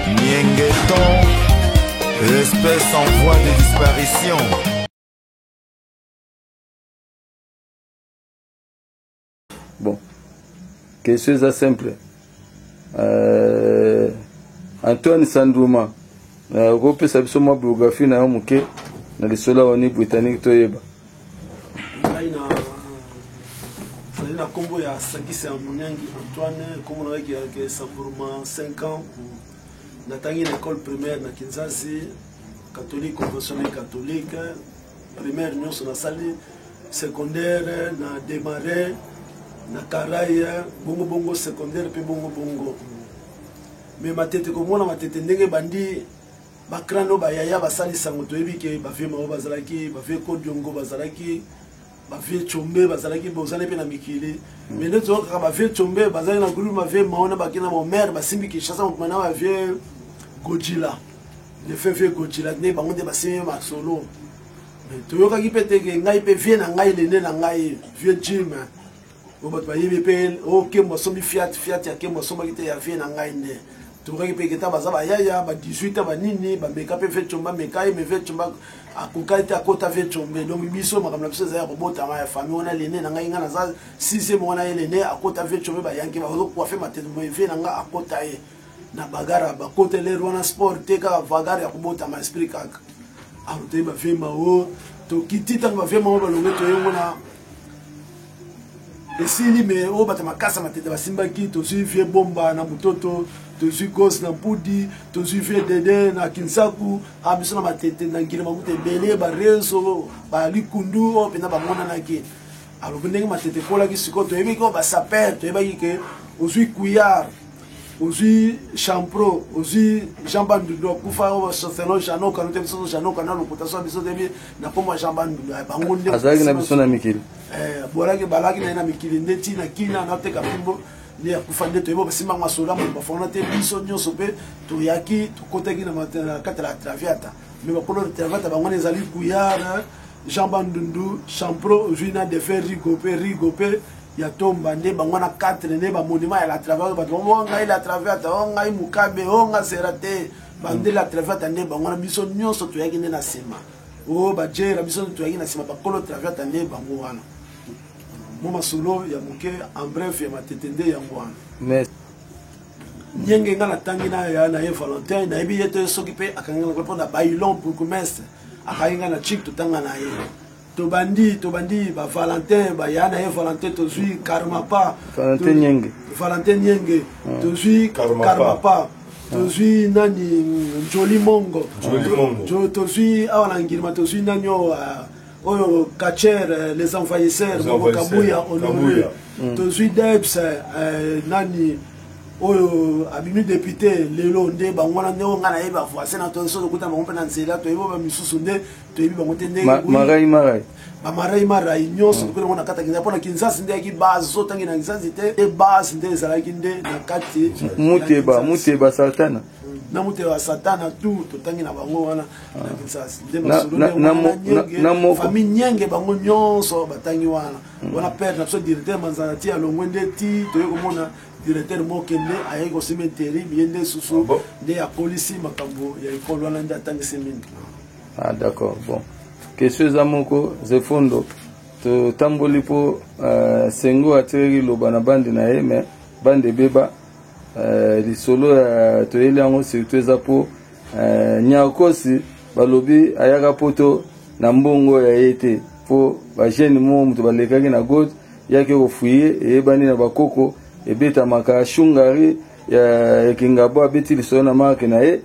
Niengeton, espèce en voie de disparition. bon question eza simple euh, antoine sanduma euh, okopesa biso mwa biographie na yo moke na lisolo ya oni britannique toyeba ngai na nazali na nkombo ya sakisa ya monyangi antoine nkombo nayaki yake samburuma 5 ans natangi na école primaire na kinzazi catholique conventionnel catholique primaire nyonso nasali secondaire na démarre na karai bongo bongo secondaire mpe bongo bongo me matete komona matete ndenge bandi ba crane oyo ba yaya basali sango toyebi ke ba vieux mao bazalaki ba vieux kodiongo bazalaki ba vieux chombe bazalaki bozali mpe na mikili mais nde toyoka kaka ba vieux chombe bazali na groupe ba vieux mao na baki na bomere basimbi kinshasa mokuma na ba vieux gojila le fait vieux gojila nde bango nde basimbi masolo toyokaki mpe teke ngai mpe vieux na ngai lende na ngai vieux jim oyo bato bayebi mpe o oh, kembo asombi fiat fiat ya kembo asombaki te ya vie na ngai nde tokaki mpe keta baza bayaya ba 18 banini bameka mpe vecombe ameka ye me vecombe akokaki te akota vecombe donc biso makambo na biso ezali ya kobotama ya famille wana lene na ngai ngai naza sixième wana ye lene akota vecombe bayanki bazokuafe matete moye vie na ngai akota ye na bagara bakota lere wana sport te kaka vagare ya kobotama esprit kaka autei bavie mao tokiti ntango bavie mao balongi toyengo na esili me oyo bato makasa matete basimbaki tozwi vie bomba na mototo tozwi gos na mpudi tozwi vie dede na kinsaku a biso na matete na ngile makuta ebele barezo balikundu oyo mpenza bamonanaki alobi ndenge matete ekolaki sikoyo toyebiki oyo basapere toyebaki ke ozwi kuyar ozwi champro ozwi jean bandundu akufa selon jano kano te biso jano kana lokuta so biso te na nkombo ya jean bandundu ya bango nde azalaki na biso na mikili eh, bolaki balaki na ye na mikili nde ti na kina nateka mpimbo nde akufa nde toyebi basimba yango asoda moto bafona te biso nyonso mpe toyaki tokotaki na kati ya la traviata mais bakolo ya traviata bango na ezali kuyar jean bandundu champro ozwi na defe rigo mpe rigo mpe ya tomba nde bango wana 4 nde ba monument ya la travers bato bango o oh, ngai la travers o oh, ngai mukabe o oh, ngai sera te bande la travers nde bango wana biso nyonso toyaki nde na nsima o bajera biso toyaki na nsima bakolo travers nde bango wana mo masolo ya moke en bref ya matete nde yango wana nyenge nga natangi na ye valentin nayebi ye te soki mpe akangi na mpo na bailon bourgmestre akangi nga na chik totanga na ye tobandi tobandi ba valentin baya na ye valentin tozwi karmapa valentin nyenge valentin nyenge hmm. tozwi karmapa tozwi nani joli mongo tozwi awa na ngirima tozwi nani oyo ah, oyo kacher eh, les envahisseurs mongo kabuya honore hmm. tozwi debs eh, eh, nani oyo abimi depute lelo nde bango wana nde oyo ngai nayebi bavoisin na tosoki okuta bango mpe na nzela toyebi oyo bamisusu nde toyebi bango te ndengemarai bamarai marai nyonso mm. lokola ngo na kati ya kinzasi mpona kinzasi nde yaki bazo ntangi na kinzasi te e base nde ezalaki nde na kati muteba muteba satana na motema ya satana tu totangi na bango wana ah. na kinsasi nde masoloafamille nyenge bango nyonso batangi wana mm. wana pere na biso directeur manzana ti alongwe nde ti toye komona directeur mokende ayaki kosima interi biye nde susu ah nde akolisi makambo ya ekolo wana nde atangisi mingi ah d'accord bon question eza moko zefondo totamboli mpo uh, sengo atiraki loba na bande na ye mais bande ebeba uh, lisolo uh, toyeli yango surtout eza mpo uh, nyakosi balobi ayaka poto na mbongo ya ye te mpo bagene moko moto balekaki na gode yaki kofuye eyebani na bakoko ebetamaka shungari ya kingabo abeti lisolo na marke na ye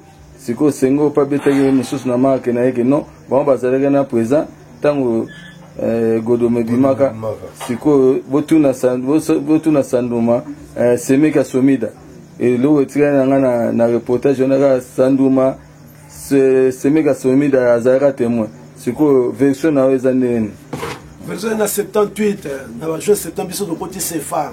sikoyo sengo mpe abetaki ye mosusu na marke na ye ke non bango bazalaki na présent ntango eh, godoma ebimaka sikoyo botuna san- boso- botuna sanduma eh, semeki ya somida eloko etikali na ngai na, na reportage wana kaka sanduma se- semeki ya somida azalaka témoin sikoyo version na yo eza ndenge nini version na 78 eh, na bajour 70 biso tokoti sefa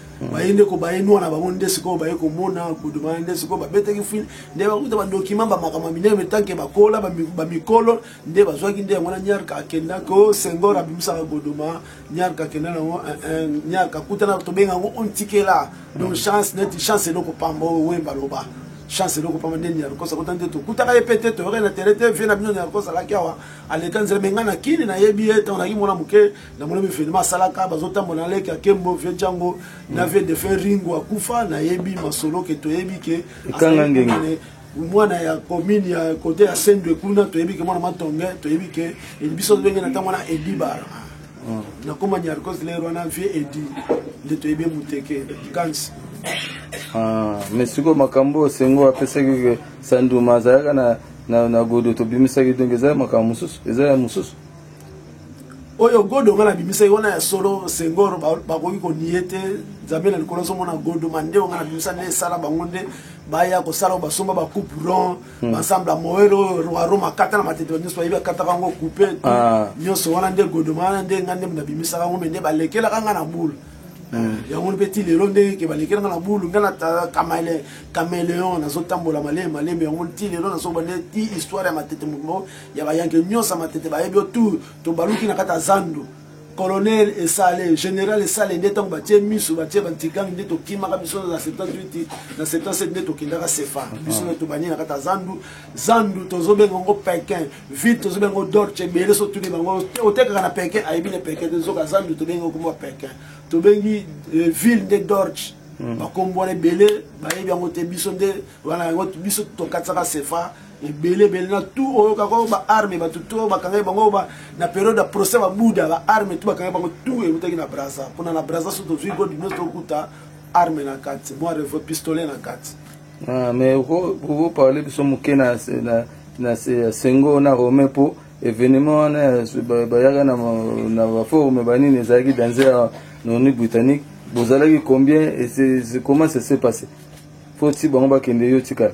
baye ndeko baye nwana bango nde sikoyo baye komona kodoma nde sikoyo babetaki fil nde bakuta badokima bamakambo ya minene metanke bakola bamikolo nde bazwaki nde yango na nyarka akenda ko sengor abimisaka kodoma nyarka akenda nango eh, eh, nyarka akutana tobenga yango ontikela donc chance neti chance eloko pamba oyo wemba loba chance eloko pamba nde nyarkosa kota nde tokutaka ye mpe te toyokaki na tere te vie na bino nyarkosa alaki awa aleka nzela me ngai na kini nayebi ye ntango naki mwana moke na mona mivenema asalaka bazotambola na leki ya kembo vie django na vie de fin ringo akufa nayebi masolo ke toyebi ke kanga ngenge mwana ya commune ya kote ya sendwe kuna toyebi ke mwana matonge toyebi ke biso ndenge na ntango wana edibara mm. nakoma nyarcos lero wana vie edi nde toyebi muteke kansi ah, mais sikoyo makambo oyo sengo apesaki sanduma azalaka na godo tobimisaki donc eza makambo mosusu eza ya mosusu oyo godo nga nabimisaki wana ya solo sengor bakoki konie te nzambe na likolo azomona godo mandeo nga nabimisa nde esala bango nde baya kosala basomba bacoupe rond hmm. basamble ya moel oyo roi roma akata na matete nyonso bayebi akataka yango coupe ah. nyonso wana nde godo wana nde nga nde nabimisaka yango me nde balekelaka nga na boule hmm. yango mpe ti lelo ndenge ke balekelaka na bulu nga na cameleon nazotambola malemi malemi yango ti lelo nazoba nde ti histoire ya matete moko ya bayanke nyonso ya matete bayebi yo tour tobaluki na kati ya zando colonel esale général esale nde ntango batie miso batie bantigangi nde tokimaka biso na 78 na 77 nde tokendaka sefa ah. biso nde tobandi na kati ya zandu zandu tozobenga yango pekin vite tozobenga yango dorche ebele so tuni bango otekaka na pekin ayebi na pekin te zoka zandu tobengi yango kombo ya pekin tobengi euh, ville nde dorche hmm. bakombo wana ebele bayebi yango te biso nde wana yango biso tokatisaka sefa ebele ebele na tu oyo kaka oyo baarme bato to bakangai bango ba, na periode ya procès babuda baarme tu bakangai bango tu eutaki na braza mpona na braza so tozwi godi nyonso tokuta arme na kati mwa revo pistolet na kati ah, mais okoparle biso moke na na sengo na romain mpo événement wana bayaka na baforume banini ezalaki danse ya noni britannique bozalaki combien comment ça se passe fo ti bango bakende yo tikala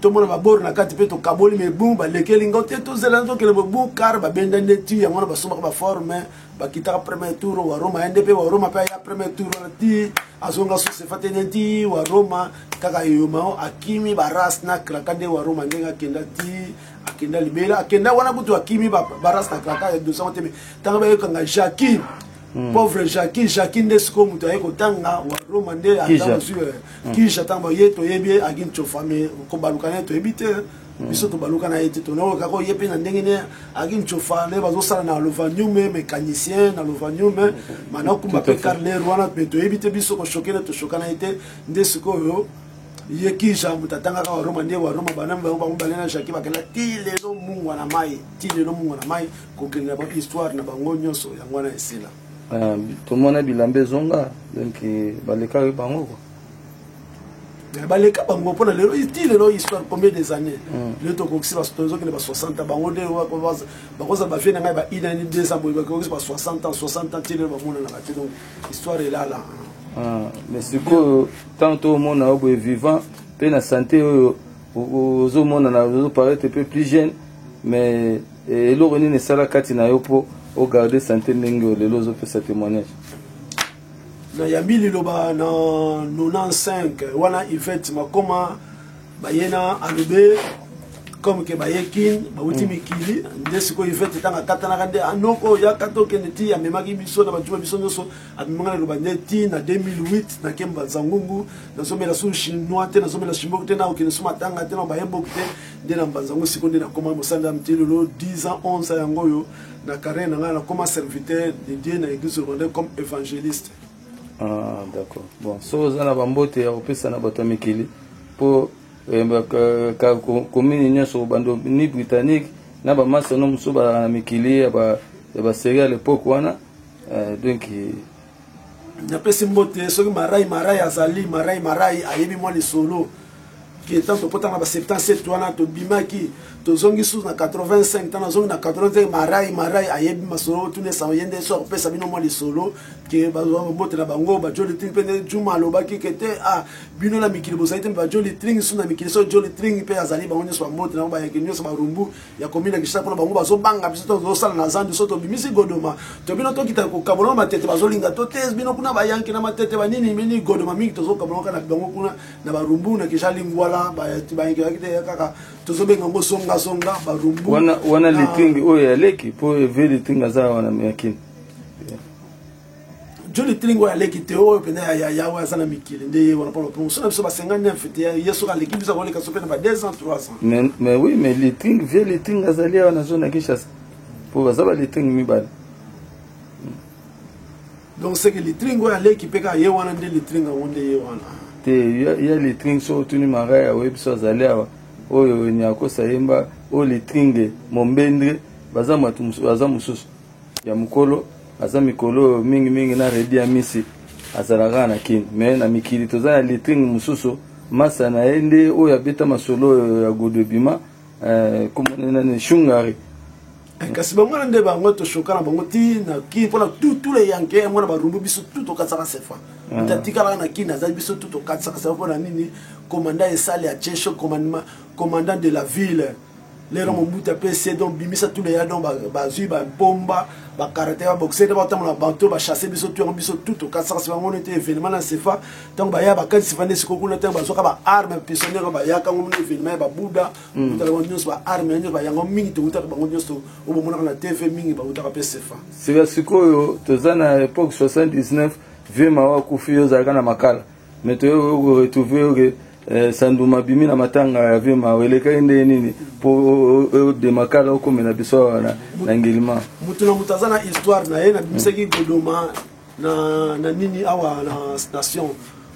tomona babor na kati mpe tokaboli me bu balekeli ngo te tozela tokende bobu kar babenda nde ti yango wana basombaka baforme bakitaka premier tour wa roma ye nde mpe wa roma mpe aya premier tour wana ti azonga sosefa te nde ti wa roma kaka eyomao akimi baras na kraka nde wa roma ndenge akenda ti akenda libela akenda wana kutu akimi baras na kraka ya dosango te me ntango bayokanga jacquin Mm. pauvre jacqui jacqui nde sikoyo moto aye kotanga wa roma nde azwi kija ntango baye toyebi ye aginchofame kobaluka naye toyebi te mm. biso tobaluka na ye te tonakoka ko ye mpe na ndenge ne aginchofa nde bazosala na lovaniume mécanicien na lovaniume mm. manakumba mpe carler wana mpe toyebi te biso koshoke na toshoka na ye te nde sikoyo ye kija moto atangaka waroma nde waroma banami bango bango balena jacqui bakela ti lelo mungwa na mai ti lelo mungwa na mai kokende na ba histoire na bango nyonso yango wana esila ah, tomona bilamba ezonga donc eh, balekaki bango kua eh, baleka bango mpona lelo ti lelo histoire combien des années hmm. lelo tokokisi tozokende ba 60 bango nde bakozala bavie na ngai ba inani deux ans boye bakokisi ba 60 ans 60 ans ti lelo bamonanaka te donc histoire elala ah, mais sikoyo ntango tomona yo boye vivant mpe na sante oyo ozomonana ozoparete mpe plus jeune mais Eh, eloko nini esala kati na yo mpo o garde sante ndenge oyo lelo ozopesa témoignage nayambi liloba na 95 wana ivete makoma baye na alobe comme ke baye kin bauti mm. mikili nde sikoyo ivete ntango akatanaka nde anoko ah, yakata okende ti amemaki biso na bato ba biso nyonso amemaka na loba nde ti na 2008 nakemba nzangungu nazomela su chinois te nazomela chimboki te na okende su matanga te na bayemboki te nde na mbanza yango sikoyo nde nakoma mosali na miti lelo 10 ans 11 ans yango oyo na carrière na ngai nakoma serviteur de dieu na église rwandais comme évangéliste ah, d'accord bon so oza na bambote ya kopesa na bato ya mikili mpo komini eh, nyonso bando ni britannique na bamasono mosusu bazalaka na mikili ya baserie ya lepoke wana eh, donc napesi mbote soki marai marai azali marai marai ayebi mwa lisolo ntango tokotanga ba 77 wana tobimaki tozongi susu na 85 ntango nazongi na 85 marai marai ayebi masolo tunesa ye nde so akopesa bino mwa lisolo ke babotela bango bajoli tring mpe nde juma alobaki ke te a ah, bino na mikili bozali te mpe bajoli tring susu na mikili so joli tring mpe azali bango nyonso bambotela yango bayeke nyonso barumbu ya komina kishasa mpona bango bazobanga biso tozosala na zando so tobimisi godoma to bino tokita kokabola matete bazolinga to te bino kuna bayanki na matete banini mini godoma mingi tozokabola kaka na bango kuna na barumbu na kisha lingwala bayanki yaki te kaka tozobenga yango zongazonga barumbu wana litingi oyo ya leki mpo eve litingi aza wana yakini joli tilingi oyo aleki te oyo mpenza ya yaya oyo aza na mikili nde ye wana mpona mposo na biso ba 59 te ye soki aleki biso akoleka so mpe na ba 2 ans 3 ans mais, mais oui mais litring vie litring azali awa na zone ya kinshasa mpo baza ba litring mibale donc seke litring oyo aleki mpe kaka ye wana nde litring yango nde ye wana te ya litring soki otuni maraya oyebi biso azali awa oyo nyakosa yemba oyo litringe mombendre baza mosusu ya mukolo aza mikolo oyo mingi mingi na Reddy Amisi azalaka na kin mais na mikili toza na letring mususu masa na ye nde oyo abeta masolo oyo ya godo ebima eh, komona nani shungari eh, kasi bango wana nde bango toshoka na bango ti na kin mpona tutu le yanke yango na barumbu biso tu tokatisaka sefa ah. nde atikalaka na kin azali biso tu tokatisaka sefa mpona nini commandant esali atie cho commandant de la ville lelo mm. mobutu apesi donc bimisa tuna ya donc bazwi bampomba bakarate baboxe nde batambola bato bachasse biso tu yango biso tu tokasakasi bango nete événement na sefa ntango baya bakanisi vande siko kuna ntango bazwaka baarme pisonniere bayaka ngo mona événement ya babuda mm. utaka bango nyonso baarme ya nyonso bayango mingi toutaka bango nyonso oyo bomonaka na tv mingi bautaka mpe sefa sika sikoyo toza na époque 79 vieux mawa akufi yo ozalaka na makala mais toyo retrouve oke Eh, sanduma bimi na matanga ya vie mawa elekaki ndenge nini mpo odemakala okomela biso awa na ngilima moto na moto aza na histoire na ye nabimisaki godoma na nini awa na station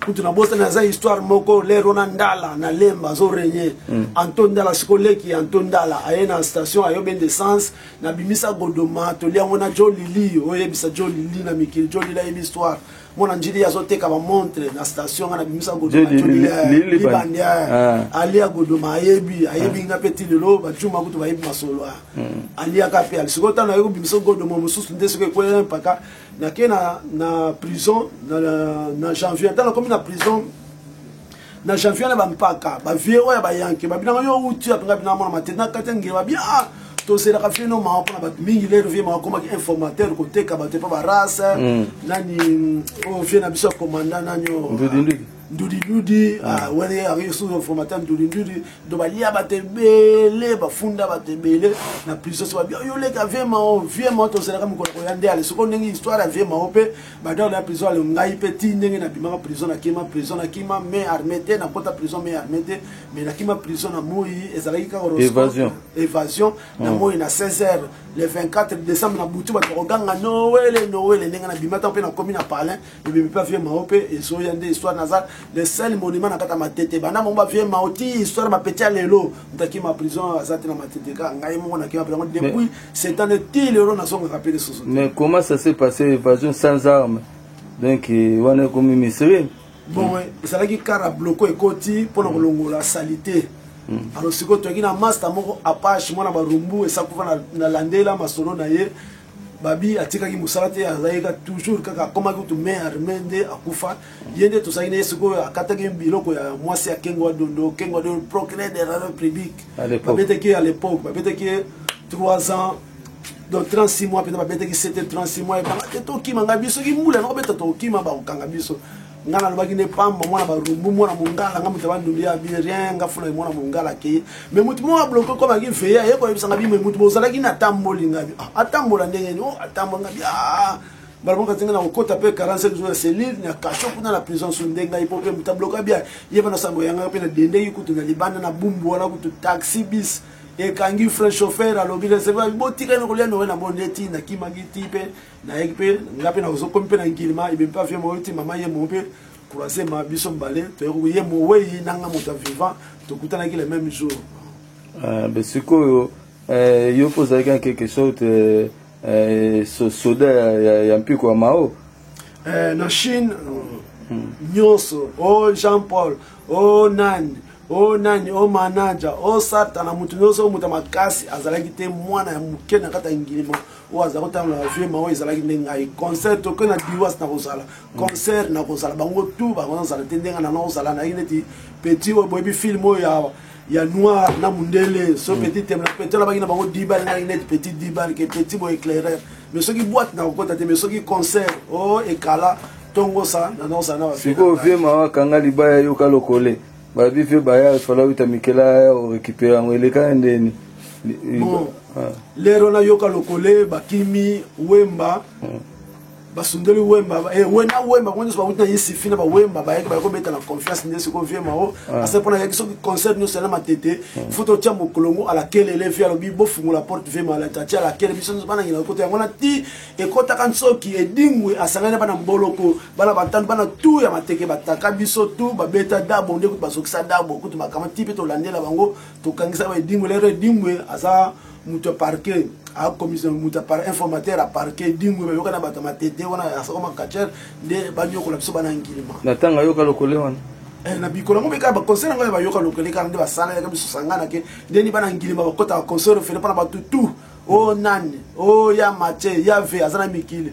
kutu nabosani aza histoire moko lere wana ndala na lemba azorenye mm. anto ndala siko leki anto ndala aye na station ayobe ndesence nabimisa godoma toli yango na jo lili oyebisa jo lili na mikili jo lili ayebi histoire mwana njili azoteka bamontre na station nga nabimisa godolibandi ah. alia godoma ayebi ayebi ah. nga mpe ti lelo bacuma kutu bayebi masolo ah. hmm. aliaka mpe ali sikoyo ntango naye kobimisa godoma mosusu nde soki ekwela mpaka nake na prison na janvier ntango nakomi na prison na janvier na bampaka bavie oyo ya bayanke babinaka yo uti apinga bina mwana matete na kati ya ngele babia ah, tozelaka vie no mawa mpona bato mingi lelo vie mawa akomaki informateur koteka bato epa barace mm. nani oyo oh, vie na biso ya komanda nani oyo oh, ndudindudi mm. ah, wani ayaki susu informateur ndudindudi do balia bato ebele bafunda bato ebele na prison so babia yo leka vie mao vie mao tozelaka mokolo koya nde ale soko ndenge histoire ya vie mao mpe banda na prison alo ngai mpe ti ndenge nabimaka prison nakima prison nakima mai arme te nakota prison mai arme te mai nakima prison na moi ezalaki kaka evasion evasion na mm. moi na 16 heures le 24 décembre na butu bato bakoganga noele noele ndenge nabima ntango mpe nakomi na palin ebimi mpe avie mao mpe ezoya nde histoire naza le seul monument na kata matete banda mongo bavie mao ti histoire bapeti ya lelo nakima prison aza te na matete kaka ngai moko nakima prison depuis sept ans ti lelo nazongaka mpe lisusu mais comment ça s'est passé évasion sans arme donc euh, wana ekomi mysterie bon ezalaki kara bloko ekoti mpo na kolongola salite hmm. alors sikoyo toyaki na masta moko apache mwana barumbu esakufa na landela masolo na ye babi atikaki mosala te azalaki toujours kaka akomaki kutu main arme nde akufa ye nde tozalaki na ye sikoyo akataki biloko ya mwasi ya kengo wa dondo kengo wa dondo procureur de la république babetaki ye à l'époque babetaki ye 3 ans donc 36 mois mpenza babetaki sete 36 mois ebanga te tokima ngai biso soki mbula nakobeta tokima bakokanga biso nga nalobaki nde pamba mwana barumbu mwana mongala nga moto bandumbi ya birien nga fula mwana mongala akeye me moto moko abloke okomaki veye aye koyebisanga bime moto bozalaki na atamboli ngabi ah, atambola ndenge ni o oh, atambola ngabi ah, mbala moko atinga na kokota mpe 45 jours na cellule na kasho kuna na prison so nde ngai mpo mpe moto abloka bia ye mpe na sango yangaka mpe nadendeki kutu na libanda na bumbu wana kutu taxi bis ekangi frais chauffeur alobi leseva botika na kolia nowe na bo nde ti nakimaki ti mpe nayeki mpe nga mpe nazokomi mpe na nkilima ebe mpe afie moyo ti mama ye moo mpe croisema biso mbale toyeki ye mowei nanga moto ya vivant tokutanaki le même jour ah, sikoyo eh, yo mpe ozalaki en quelque sorte eh, Eh, so, soda ya, ya, ya mpiko ya mao eh, na chine hmm. nyonso o oh, jean paul o oh, nani o oh, nani o manaja o satana moto nyonso oyo moto ya makasi azalaki te mwana ya moke na kati ya ngilima oyo azalaki ntango na vie mao ezalaki nde ngai concert toke na diwas nakozala hmm. concert nakozala bango tu bakozala te ndenge na nakozala naye neti petit oyo boyebi filme oyo ya ya noir na mundele so mm. petit temla petit alabaki na bango dibal ngai neti petit dibal ke petit bo éclairer mais soki boîte na kokota te mais soki concert o oh, ekala tongosa na nosa na sikoyo vie mawa kanga libaya yoka lokole babi mpe baya fala wita mikela ya orekipere yango elekani ndeni bon ah. lero nayoka lokole bakimi wemba mm. basundoli wemba eh, we na wemba bango nyonso bauti na isifi na bawemba bayaki bayaki kobeta na confiance nde sikoyo vie mao ase mpo nayaki soki concert nyonso yana matete fo totya mokolongo alakelele vi alobi bofungola porte vie mao atia alakele biso nyonso banangela ekota yango na ti ekotaka nsoki edingwe asangani na bana mboloko bana batano bana tu ya mateke bataka biso tu babeta dabo nde kutu bazokisa dabo kutu bakama ti mpe tolandela bango tokangisa ba edingwe lero edingwe aza moto ya parquet akomisa moto ya informateur ya parquet dingwe bayoka na bato ya matete wana ya soko makachere nde banyokola biso bana ngilima na ntango ayoka lokole wana eh, na bikolo yango meka baconseil yango ya bayoka lokole kaka nde basala yaka biso sangana ke ndeni bana ngilima bakotaka conseil ofele mpo na bato tout o oh, nani o oh, ya matie ya ve aza na mikili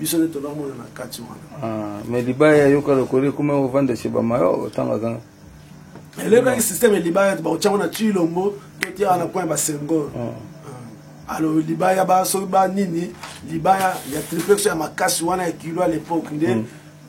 biso nde tozomona na kati wana ah, mais libaya yoka lokola ekoma kovanda chez bamayo otangaka elekaki systeme libaya bakotiango na tilombo totiaka na point basengor ah. ah. alo libaya basoki banini libaya ya triplex ya makasi wana ya kilo ya lepoke nde mm.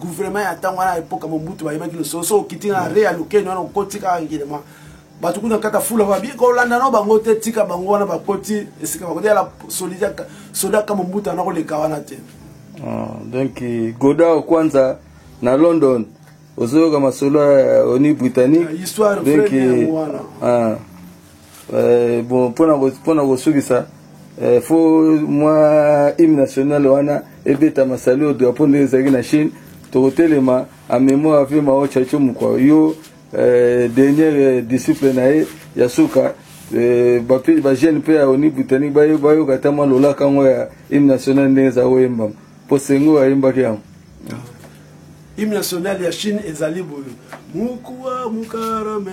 gouvernement ya ntango wana epoka mobutu bayebaki losolo so okiti na re ya lokeni wana okoti kaka ngilema bato kuna kata fula babi kolanda no bango te tika bango wana bakoti esika bakoti yala soda ka mobutu ana koleka wana te ah, donc goda kwanza na london ozoyoka masolo ya oni britannique donc ah. eh, bon mpo na kosukisa eh, fo mwa hymne national wana ebeta masali oyo drapo ndenge ezalaki na chine tokotelema en mémoire ape mao chacho mokwa yo eh, dernière eh, disciple na ye ya suka eh, bajeune mpe ya oni britanique bayoka ata mwa lolaka yango ya hymne national ndenge eza koyembama mpo sengo ayembaki yango hymne national ya chine ezali boye mukua mukarame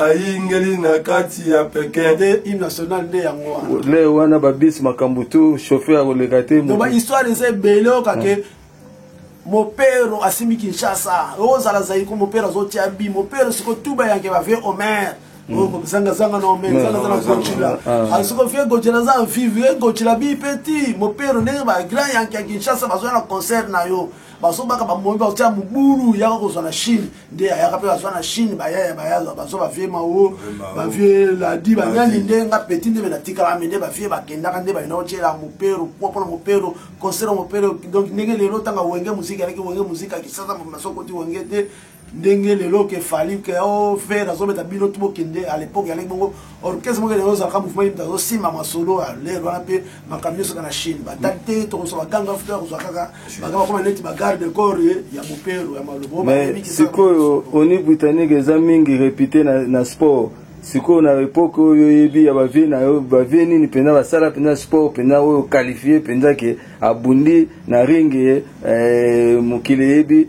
ayingeli na kati ya pekin nde hymne national nde yango wana le wana babisi makambo tu chauffeur akoleka te donc bahistoire eza ebele oyoka ke mopero asimbi kinshasa ozala zaiko mopero azotia bi mopero siko tuba yanke bavie omer zangazanga na omer zangazanga gocila asiko vie gocila aza vive gocila bi peti mopero ndenge bagrand yanke ya kinshasa bazoya na concert na yo mm. bazobaka bamoyi baotya mobulu yaka kozwa na chine nde ayaka mpe bazwa na chine bayaya bayaza bazwa bavie mao bavie ladi banyani nde nga peti nde benatikala me nde bavie bakendaka nde bayina otyela mopero mpo mpona mopero concert mopero donc ndenge lelo ntanga wenge muziki alaki wenge muziki akisasa masokoti wenge te ndenge lelo ke fali ke o oh, fer azobeta bino ti bokende à l'époque yalaki bongo orchestre moko lelo ozalaka mouvement yimta azosimba masolo ya lere wana mpe makambo nyonso kaka na chine batali te tokosala baganga futa kozwa kaka banga bakoma neti bagarde corps ya mopero ya malobo sikoyo oni britannique eza mingi repute na, na sport sikoyo na epoke oyo oyebi ya bavie na yo bavie nini mpenza basala mpenza sport mpenza oyo qualifie mpenza ke abundi na ringi eh, mokili eyebi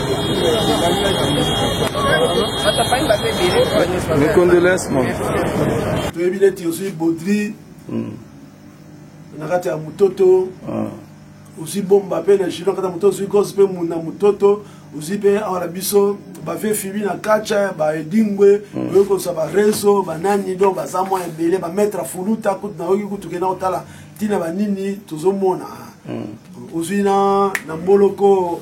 Mes condoléances, mon. toyebi neti ozwi bodri hmm. na kati ya mototo ah. ozwi bomba mpe na jilo kati ya mototo ozwi gos mpe muna mototo ozwi mpe awa na biso bave fibi na kacha baedingwe hmm. oyoki kozwa barezo banani donc baza mwa ebele bametre fuluta kutu nayoki kutu kenda kotala ntina banini tozomona hmm. ozwi na mboloko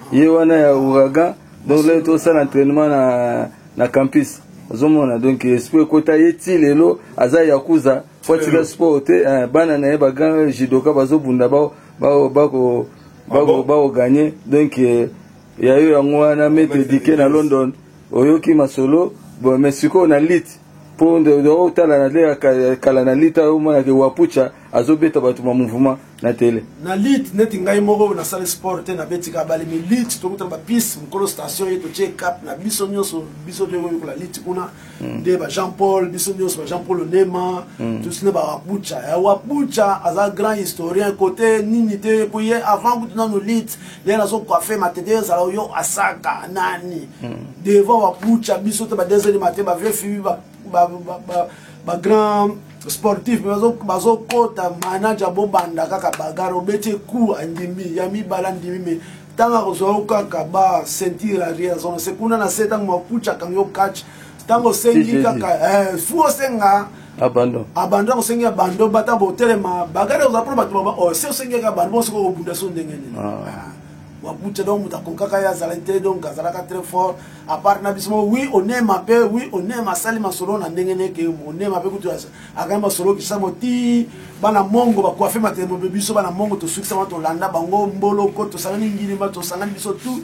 ye wana ya ouragan donc lelo tosala entraînement na, na campus ozomona donc esprit ekota ye ti lelo aza yakuza po atika sport te eh, bana na ye bagrand jidoka bazobunda bakoganye ah donc eh, yayo yango wana mete dike na london oyoki masolo bon mais sikoyo na lite po otala na lea kala na lite ayo omona ke wapucha azobeta bato ma mouvement na tele na lite neti ngai moko nasali sport te nabetika abali mi lite tokutana bapiste mokolo station ye totie cap na biso nyonso biso toyekoyekola lite kuna hmm. nde ba jean paul biso nyonso ba jean paul onema hmm. tosine ba wapucha ya wapucha aza grand historien kote nini te po ye avant kutu nano lite ndenge nazo coiffe matete ezala oyo asaka nani hmm. devant babucha biso te badeseli mate bavie fibi bagrand sportif bazokota manaja bobanda kaka bagare obeti eku andimi ya mibale andimi me ntango akozwa yo kaka ba ceinture arrière zona se kuna na se ntango makucha akangi yo catch ntango osengi kaka eh, fu osenga abandon abandon osengi abandon bata botelema bagade oza mpona bato baba oh, se osengi kaka abandon bonso koko obunda so ndenge nini ah. wabucha donc moto akokaka ye azalaki te donc azalaka très fort apart na biso moko oui onema mpe oui onema asali masolo na ndenge neke onema mpe kutu akangi masolo kisamo ti bana mongo bakuafe matelemo mpe biso bana mongo tosukisama tolanda bango mboloko tosangani ngilimba tosangani biso tout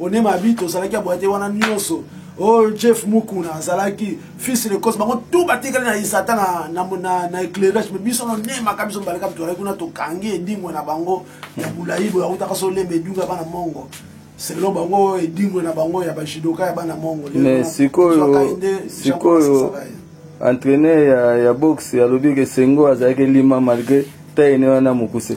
one mabi tozalaki ya boyate wana nyonso oh jeff mukuna azalaki fils de cause bango tout batikali na isata na, na, na, na éclairage me biso nonemaka biso mbaleka bitozalaki kuna tokangi edingwe na bango ya molai boye akutaka so olemba edunga bana mongo selon bango edingwe na bango ya bajidoka ya bana mongo mais sikoyo sikoyo entraîneur ya, ya boxe alobi ke sengo azalaki lima malgré taine wana mokuse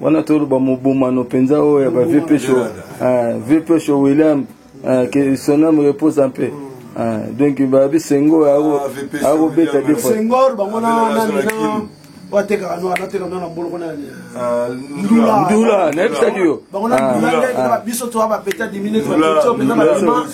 wana toloba mobomano mpenza oyo ya ba vieux pesho ah, vieux pesho william ah, que son âme repose en paix ah, donc babi sengo akobeta defsengor bango nananina batekaka noa nateka noa na boloko nandula nayebisaki yo biso toa bapeta dimine mpenza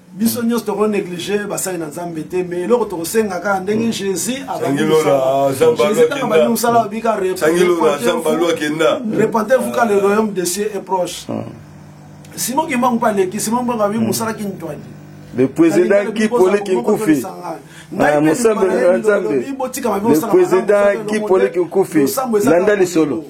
biso nyonso toko neglige basali na nzambe te mais eloko tokosenga kaka ndenge hmm. jésus abandisabandi mosala abika repentez vous ka le royaume de cieux est proche hmm. simon kimbangu mpe aleki simon kimbangu abi hmm. mosala kintwadi le président guy pole kinkufi mosambeli na nzambe le président guy pole kinkufi landa lisolo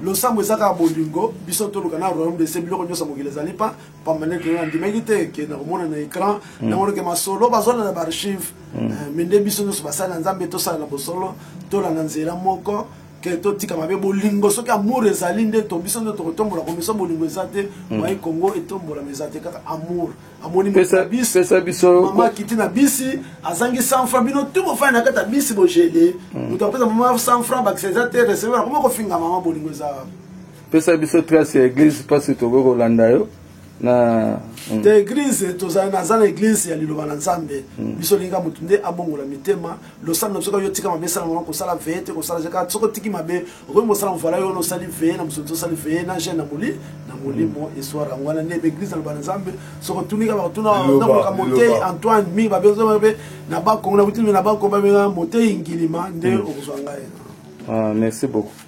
losambo eza kaka bolingo biso toluka na royaume de cieux biloko nyonso mokili ezali pa pamba nde kena andimaki te ke nakomona na écran mm. nango ke masolo bazolanda baarchive mm. eh, me nde biso nyonso basali na nzambe tosala na bosolo tolanda nzela moko ke totika mabe bolingo soki amour ezali nde to biso nde tokotombola komisa bolingo eza te mm. mai congo etombolama eza te kaka amour amoni pesa biso mama akiti na bisi azangi 100 franc bino tu bofani na kati ya bisi bogele moto apesa mama 100 franc bakisa eza te receveur akoma kofinga mama bolingo eza pesa biso trace ya eglise mpasi tokoki kolanda yo na mm. te eglise tozali naza na eglise ya liloba na nzambe mm. biso olinga motu nde abongola mitema losambo na biso kaka yo tika mabe esala mama kosala veye te kosala jeka soki otiki mabe okoki mosala movala yo wana osali veye na mosolo tosali veye na jeune na moli na molimo mm. eswara yango wana nde baeglise na loba na nzambe soki otuni kaka bakotuna nakoka motei antoine mingi babenza mabe na bakongo na kutimi na bakongo babenga motei ngilima nde okozwa ngai ah, merci beaucoup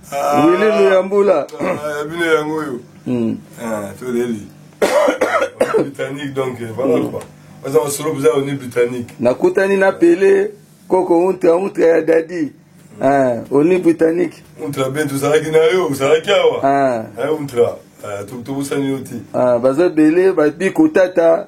Ah, Willy Luyambula. Ah, bino yango oyo. Hmm. Ah, toleli. Britannique donc eh, voilà hmm. quoi. Baza masolo boza oni britannique. Nakutani na Pele koko untra untra ya dadi. Hmm. Ah, oni britannique. Untra ben tozalaki na yo, ozalaki awa. Ah. Eh, untra. Ah, tobosani yo te. Ah, baza ebele babiko tata.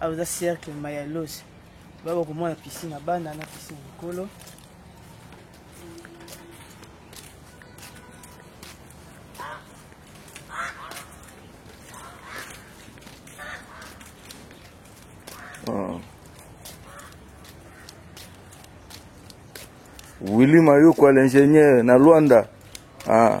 Awa eza cercle Mayalos. Baba komona piscine ya bana na piscine likolo. Ah. Willy Mayukwa l'ingénieur na Luanda. Ah.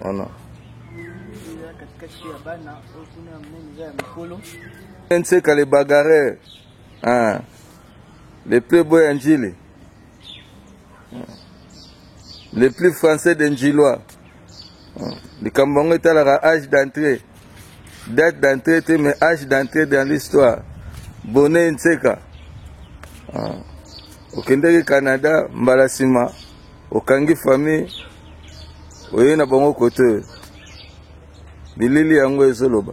wana nseka le bagarre ah. le plus beau ya njili le plus français de njilois likambo yango etalaka age d'entrée date d'entrée te mais age d'entrée dans l'histoire bone nseka ah. okendeki canada mbala nsima okangi famille oyei na bango kote oyo bilili yango ezoloba